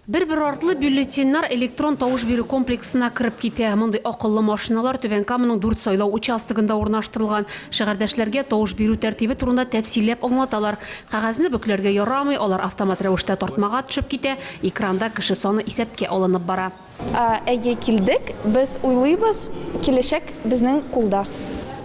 Бер-бер артлы бюллетеньнар электрон тавыш бирү комплексына кереп китә. Мондый акыллы машиналар Түбән Каманың дүрт сайлау участогында урнаштырылган. Шәһәрдәшләргә тавыш бирү тәртибе турында тәфсилләп аңлаталар. Кәгазьне бөкләргә ярамый, алар автомат рәвештә тартмага төшеп китә, экранда кеше саны исәпкә алынып бара. Әйе, килдек. Без уйлыйбыз, киләчәк безнең кулда.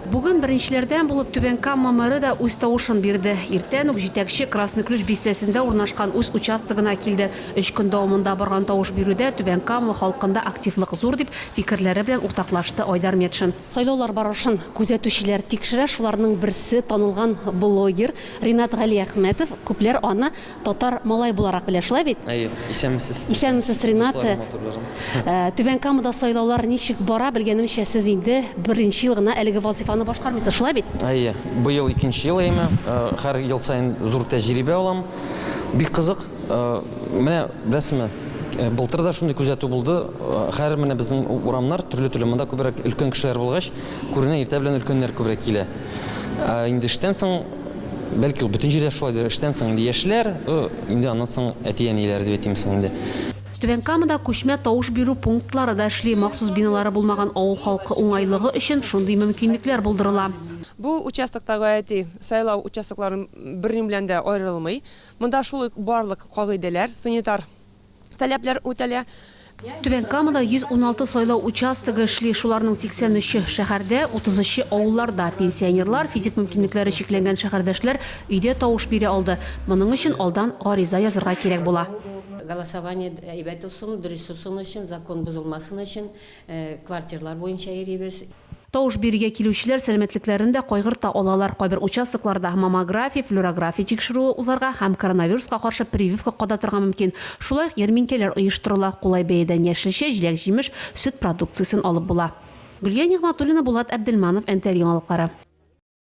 Бүген беренчеләрдән булып Түбән Кама мэры да үз тавышын бирде. Иртән үк җитәкче Красный Ключ бистәсендә урнашкан үз участогына килде. Өч көн дәвамында барган тавыш бирүдә Түбән Кама халкында активлык зур, дип, фикерләре белән уртаклашты Айдар Метшин. Сайлаулар барышын күзәтүчеләр тикшерә, шуларның берсе, танылган блогер Ринат Галиәхмәтов. Күпләр аны Татар малай буларак белә, шулай бит? Әйе, исәнмесез. Исәнмесез, Ринат. Дусларым, матурларым. Ә, Түбән Камада сайлаулар ничек бара, белгәнемчә, сез инде беренче ел гына әлеге вазыйфаны башкармыйсыз, шулай бит? Әйе, быел икенче ел әйме, э, һәр ел саен зур тәҗрибә алам. Бик кызык. Э, Менә беләсезме, э, былтыр да шундый күзәтү булды. Э, Хәзер менә безнең у- урамнар төрле-төрле, монда күбрәк өлкән кешеләр булгач, күренә иртә белән өлкәннәр күбрәк килә. Ә инде эштән соң Бәлки ул бөтен җирдә шулайдыр, эштән соң инде яшьләр, инде аннан соң әти-әниләр дип әйтим соң инде. Түбән Камада күчмә тавыш бирү пунктлары да эшли, махсус биналары булмаган авыл халкы уңайлыгы өчен шундый мөмкинлекләр булдырыла. Бу участокта гаети сайлау участокларын берни белән дә аерылмый. Монда шул ук барлык кагыйдәләр, санитар. таләпләр үтәлә. Түбән Камада 116 сайлау участогы эшли, шуларның 83-е, шәһәрдә, 33-е, авылларда. Пенсионерлар, физик мөмкинлекләре чикләнгән шәһәрдәшләр өйдә тавыш бирә алды. Моның өчен алдан гариза язырга кирәк була. Голосование әйбәт узсын, дөрес узсын өчен, закон бозылмасын өчен, квартирлар буенча йөрибез. Тавыш бирергә килүчеләр сәламәтлекләрен дә кайгырта алалар, кайбер участокларда маммография, флюорография тикшерүе узарга һәм коронавируска каршы прививка кадатырга мөмкин. Шулай ук ярминкәләр оештырыла, кулай бәядән яшелчә, җиләк-җимеш, сөт продукциясен алып була. Гөлия Нигъмәтуллина, Булат Әбделманов, Нтр яңалыклары.